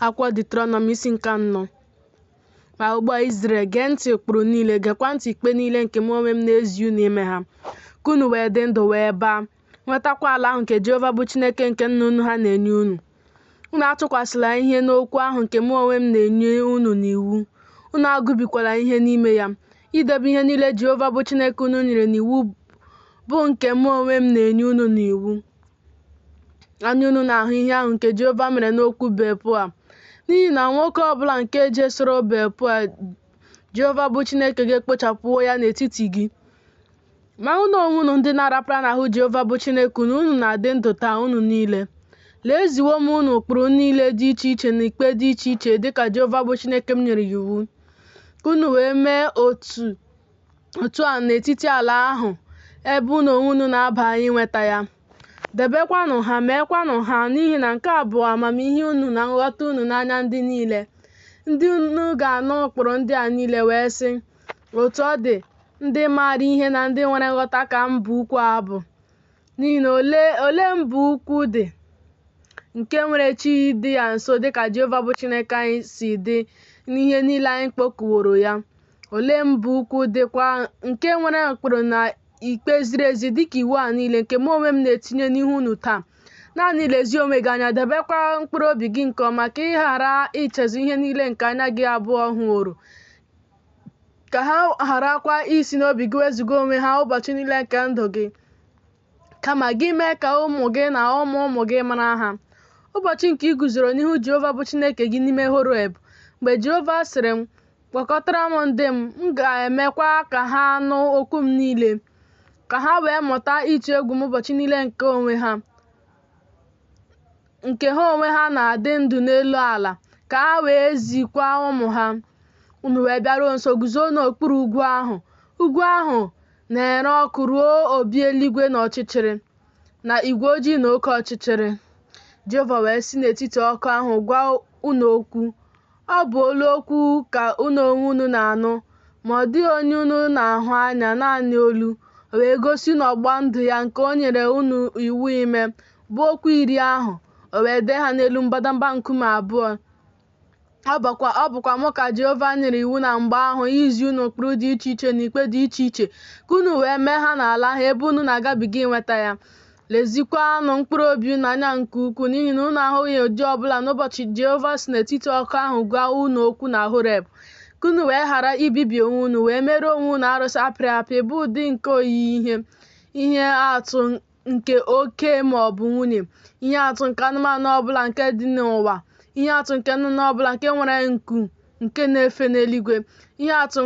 akwụkwọ Deuteronomy isi nke anọ ma ugbu a Izrel gee ntị ụkpụrụ niile gekwa ntị ikpe niile nke mụ onwe m na-ezi unu ime ha ka unu wee dị ndụ wee baa nwetakwa ala ahụ nke Jehova bụ Chineke nke nna unu ha na-enye unu unu atụkwasịla ihe n'okwu ahụ nke mụ onwe m na-enye unu n'iwu unu agụbikwala ihe n'ime ya idebe ihe niile Jehova bụ Chineke unu nyere n'iwu bụ nke mụ onwe m na-enye unu n'iwu anya unu na-ahụ ihe ahụ nke Jehova mere n'okwu Beal-Peoa n'ihi na nwoke ọ bụla nke jesoro Beal-Peoa Jehova bụ Chineke gị ekpochapụwo ya n'etiti gị ma unu onwe unu ndị na-arapara n'ahụ Jehova bụ Chineke unu unu na-adị ndụ taa unu niile lee eziwo m unu ụkpụrụ niile dị iche iche na ikpe dị iche iche dịka Jehova bụ Chineke m nyere ya iwu ka unu wee mee otu otu a n'etiti ala ahụ ebe unu onwe unu na-aba inweta ya. Debekwanụ ha, meekwanụ ha, n'ihi na nke a bụ amamihe unu na nghọta unu n'anya ndị niile. Ndị unu ga-anụ ụkpụrụ ndị a niile wee sị, Otu ọ dị, ndị maara ihe na ndị nwere nghọta ka mba ukwu a bụ. N'ihi na ole mba ukwu dị nke nwere chi dị ya nso dịka Jehova bụ Chineke anyị si dị n'ihe niile anyị kpọkuworo ya? ole mba ukwu dịkwa nke nwere ụkpụrụ na ikpe ziri ezi dịka iwu a niile nke mụ onwe m na-etinye n'ihu unu taa naanị lezie onwe gị anya debekwa mkpụrụ obi gị nke ọma ka ị ghara ichezọ ihe niile nke anya gị abụọ hụworo ka ha gharakwa isi n'obi gị wezụga onwe ha ụbọchị niile nke ndụ gị kama gị mee ka ụmụ gị na ụmụ ụmụ gị mara ha ụbọchị nke ị guzoro n'ihu jehova bụ chineke gị n'ime horeb mgbe jehova sịrị m kpọkọtara m ndị m, m ga-emekwa ka ha nụ okwu m niile, ka ha wee mụta ịtụ egwu m ụbọchị niile nke onwe ha nke ha onwe ha na-adị ndụ n'elu ala, ka ha wee zikwa ụmụ ha. Unu wee bịaruo nso guzo n'okpuru ugwu ahụ, ugwu ahụ na-ere ọkụ ruo obi eluigwe na ọchịchịrị, na igwe ojii na oke ọchịchịrị. Jehova wee si n'etiti ọkụ ahụ gwa unu okwu. Ọ bụ olu okwu ka unu onwe unu na-anụ, ma ọ dịghị onye unu na-ahụ anya, naanị olu. O wee gosi unu ọgbụgba ndụ ya nke o nyere unu iwu ime, bụ okwu iri ahụ, o wee dee ha n'elu mbadamba nkume abụọ. Ọ bụkwa mụ ka Jehova nyere iwu na mgbe ahụ izi unu ụkpụrụ dị iche iche na ikpe dị iche iche, ka unu wee mee ha n'ala ahụ ebe unu na-agabiga inweta ya. Lezikwanụ mkpụrụ obi unu anya nke ukwuu, n'ihi na unu ahụghị ụdị ọ bụla n'ụbọchị Jehova si n'etiti ọkụ ahụ gwa unu okwu na Horeb, ka unu wee ghara ibibi onwe unu wee mere onwe unu arụsị apịrị apị bụ ụdị nke oyiyi ihe, ihe atụ nke oke ma ọ bụ nwunye, ihe atụ nke anụmanụ ọ bụla nke dị n'ụwa, ihe atụ nke nnụnụ ọ bụla nke nwere nku nke na-efe n'eluigwe, ihe atụ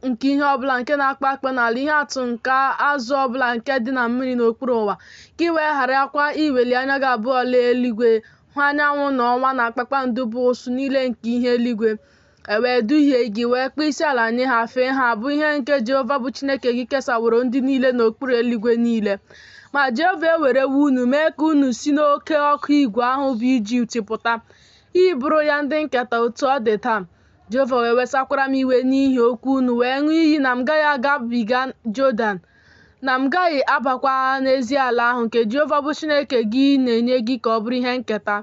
nke ihe ọbụla nke na-akpa akpa n'ala ihe atụ nke azụ ọbụla nke dị na mmiri n'okpuru ụwa ka ị wee gharakwa iweli anya gị abụọ lee eluigwe hụ anyanwụ na ọnwa na kpakpando bụ usuu niile nke ihe eluigwe e wee duhie gị wee kpọọ isi ala nye ha fee ha bụ ihe nke jehova bụ chineke gị kesaworo ndị niile n'okpuru eluigwe niile ma jehova ewerewo unu mee ka unu si n'oke ọkụ igwe ahụ bụ ijipt pụta ịbụrụ ya ndị nketa otu ọ dị taa Jehova wee wesakwara m iwe n'ihi okwu unu wee ṅụọ iyi na m gaghị agabiga Jọdan na m gaghị abakwa n'ezi ala ahụ nke Jehova bụ Chineke gị na-enye gị ka ọ bụrụ ihe nketa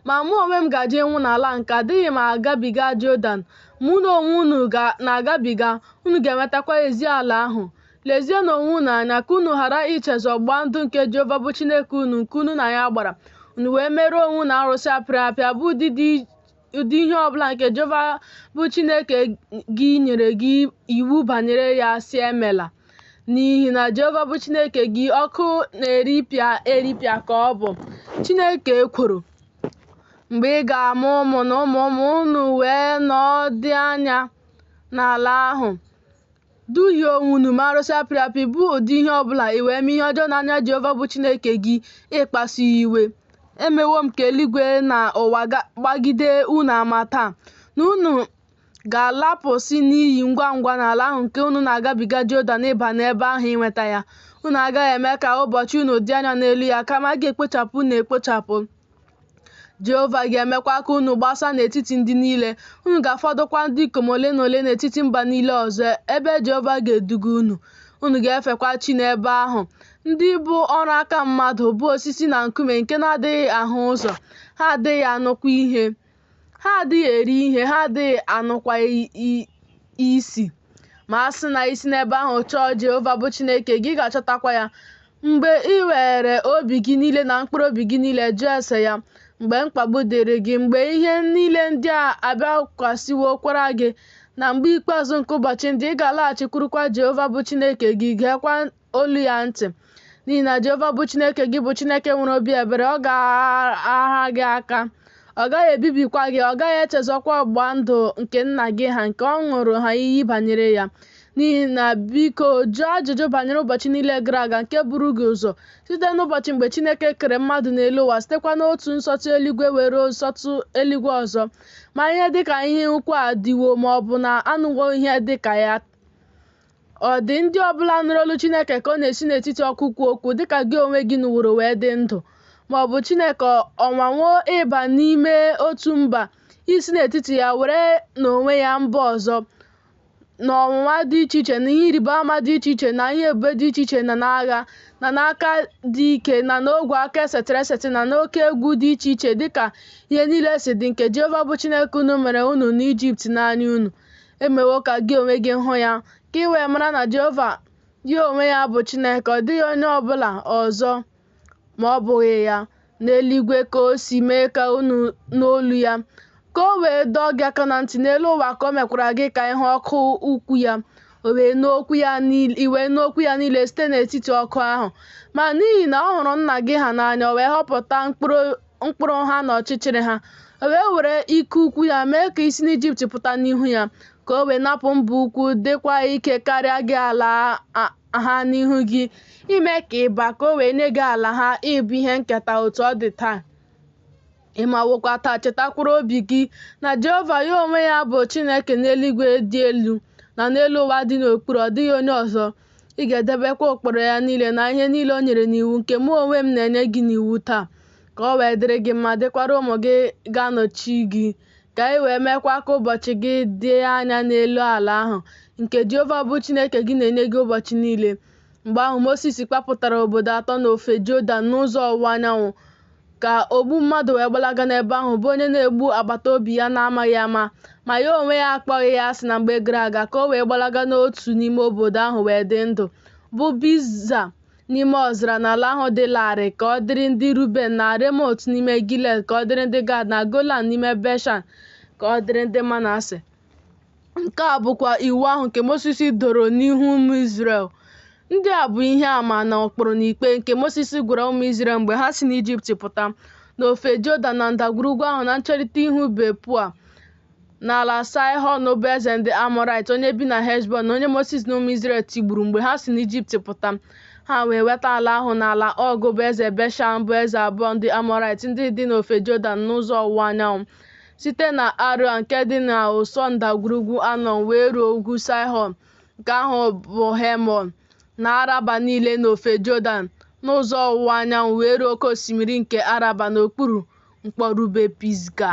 ma mụ onwe m gaje ịnwụ n'ala nke a, adịghị m agabiga Jọdan ma unu onwe unu na-agabiga unu ga-enwetakwa ezi ala ahụ lezienụ onwe unu anya ka unu ghara ichezọ ọgbụgba ndụ nke Jehova bụ Chineke unu nke unu na ya gbara unu wee mere onwe unu arụsị apịrị apị bụ ụdị dị ụdị ihe ọ bụla nke Jehova bụ Chineke gị nyere gị iwu banyere ya sị emela n'ihi na Jehova bụ Chineke gị ọkụ na-eripịa eripịa ka ọ bụ Chineke ekworo mgbe ị ga-amụ ụmụ na ụmụ ụmụ unu wee nọọ ọdụ anya n'ala ahụ Duhie onwe unu mee arụsị apịrị apị bụ ụdị ihe ọ bụla i wee mee ihe ọjọọ n'anya Jehova bụ Chineke gị ịkpasu ya iwe. Emewo m ka eluigwe na ụwa gbagide unu ama taa na unu ga-alapụsị n'iyi ngwa ngwa n'ala ahụ nke unu na-agabiga Jọdan ịba n'ebe ahụ inweta ya. Unu agaghị eme ka ụbọchị unu dị anya n'elu ya, kama a ga-ekpochapụ unu ekpochapụ. Jehova ga-emekwa ka unu gbasaa n'etiti ndị niile, unu ga-afọdụkwa ndị ikom ole na ole n'etiti mba niile ọzọ ebe Jehova ga-eduga unu. Unu ga-efekwa chi n'ebe ahụ, ndị bụ ọrụ aka mmadụ, bụ osisi na nkume nke na-adịghị ahụ ụzọ, ha adịghị anụkwa ihe. Ha adịghị eri ihe, ha adịghị anụkwa isi. Ma a sị na i si n'ebe ahụ chọọ Jehova bụ Chineke gị, ị ga-achọtakwa ya. Mgbe i weere obi gị niile na mkpụrụ obi gị niile jụọ ese ya, mgbe mkpagbu dịrị gị, mgbe ihe niile ndị a abịakwasịwokwara gị, na mgbe ikpeazụ nke ụbọchị ndị, ị ga-alaghachikwurukwa Jehova bụ Chineke gị, geekwa olu ya ntị n'ihi na Jehova bụ Chineke gị bụ Chineke nwere obi ebere ọ gaghị aha gị aka ọ gaghị ebibikwa gị ọ gaghị echezọkwa ọgbụgba ndụ nke nna gị ha nke ọ ṅụrụ ha iyi banyere ya n'ihi na biko jụọ ajụjụ banyere ụbọchị niile gara aga nke buru gị ụzọ site n'ụbọchị mgbe Chineke kere mmadụ n'elu ụwa sitekwa n'otu nsọtụ eluigwe wee ruo nsọtụ eluigwe ọzọ ma ihe dịka ihe ukwu a dịwo ma ọ bụ na anụwo ihe dịka ya Ọ dị ndị ọbụla nụrụ olu Chineke ka ọ na-esi n'etiti ọkụ kwuo okwu dịka gị onwe gị nụworo wee dị ndụ? Ma ọ bụ Chineke ọ nwanwo ịba n'ime otu mba, isi n'etiti ya were n'onwe ya mba ọzọ, na ọnwụnwa dị iche iche, na ihe ịrịba ama dị iche iche, na ihe ebube dị iche iche, na n'agha, na n'aka dị ike, na n'ogwe aka esetịrị esetị, na n'oke egwu dị iche iche, dịka ihe niile si dị, nke Jehova bụ Chineke unu mere unu n'Ijipt n'anya unu? emewo ka gị onwe gị hụ ya, ka ị wee mara na Jehova ya onwe ya bụ Chineke, ọ dịghị onye ọ bụla ọzọ ma ọ bụghị ya. N'eluigwe ka o si mee ka unu nụ olu ya, ka o wee dọọ gị aka na ntị n'elu ụwa ka o mekwara gị ka ị hụ ọkụ ukwu ya i wee nụ okwu ya niile site n'etiti ọkụ ahụ ma n'ihi na ọ hụrụ nna gị ha n'anya o wee họpụta mkpụrụ mkpụrụ ha nọchichiri ha o wee were ike ukwu ya mee ka i si n'ijipt pụta n'ihu ya ka o wee napụ mba ukwu dịkwa ike karịa gị ala ha n'ihu gị ime ka ị ba ka o wee nye gị ala ha ịbụ ihe nketa otu ọ dị taa ị mawokwa taa chetakwuru obi gị na jehova ya onwe ya bụ chineke n'eluigwe dị elu na n'elu ụwa dị n'okpuru ọ dịghị onye ọzọ Ị ga-edebekwa ụkpụrụ ya niile na ihe niile o nyere n'iwu nke mụ onwe m na-enye gị n'iwu taa, ka o wee dịrị gị mma, dịkwara ụmụ gị ga-anọchi gị, ka ị wee meekwa ka ụbọchị gị dị anya n'elu ala ahụ, nke Jehova bụ Chineke gị na-enye gị ụbọchị niile. Mgbe ahụ, Mosis kpapụtara obodo atọ n'ofe Jọdan n'ụzọ ọwụwa anyanwụ. ka ogbu mmadụ wee gbalaga n'ebe ahụ bụ onye na-egbu agbata obi ya na-amaghị ama ma ya onwe ya akpọghị ya asị na mgbe gara aga ka o wee gbalaga n'otu n'ime obodo ahụ wee dị ndụ bụ Biza n'ime ọzara n'ala ahụ dị larịị ka ọ dịrị ndị Ruben na Remot n'ime Gilead ka ọ dịrị ndị Gad na Golan n'ime Beshan ka ọ dịrị ndị Manase Nke a bụkwa iwu ahụ nke Mosis doro n'ihu ụmụ Izrel. Ndị a bụ ihe ama na ụkpụrụ na ikpe nke Mosis gwara ụmụ Izrel mgbe ha si n'Ijipt pụta, n'ofe Jọdan na ndagwurugwu ahụ na ncherịta ihu Bet-peoa, n'ala Saịhọn bụ eze ndị Amọrait, onye bi na Heshbọn, na onye Mosis na ụmụ Izrel tigburu mgbe ha si n'Ijipt pụta. Ha wee nweta ala ahụ na ala Ọg bụ eze Beshan bụ eze abụọ ndị Amọrait ndị dị n'ofe Jọdan n'ụzọ ọwụwa anyanwụ. site na Aroea nke dị n'ụsọ ndagwurugwu Anọn wee ruo ugwu Saịhọn nke ahụ bụ Hemon, na Araba niile n'ofe Jọdan, n'ụzọ ọwụwa anyanwụ wee ruo oke osimiri nke Araba n'okpuru mkpọrube Pisga.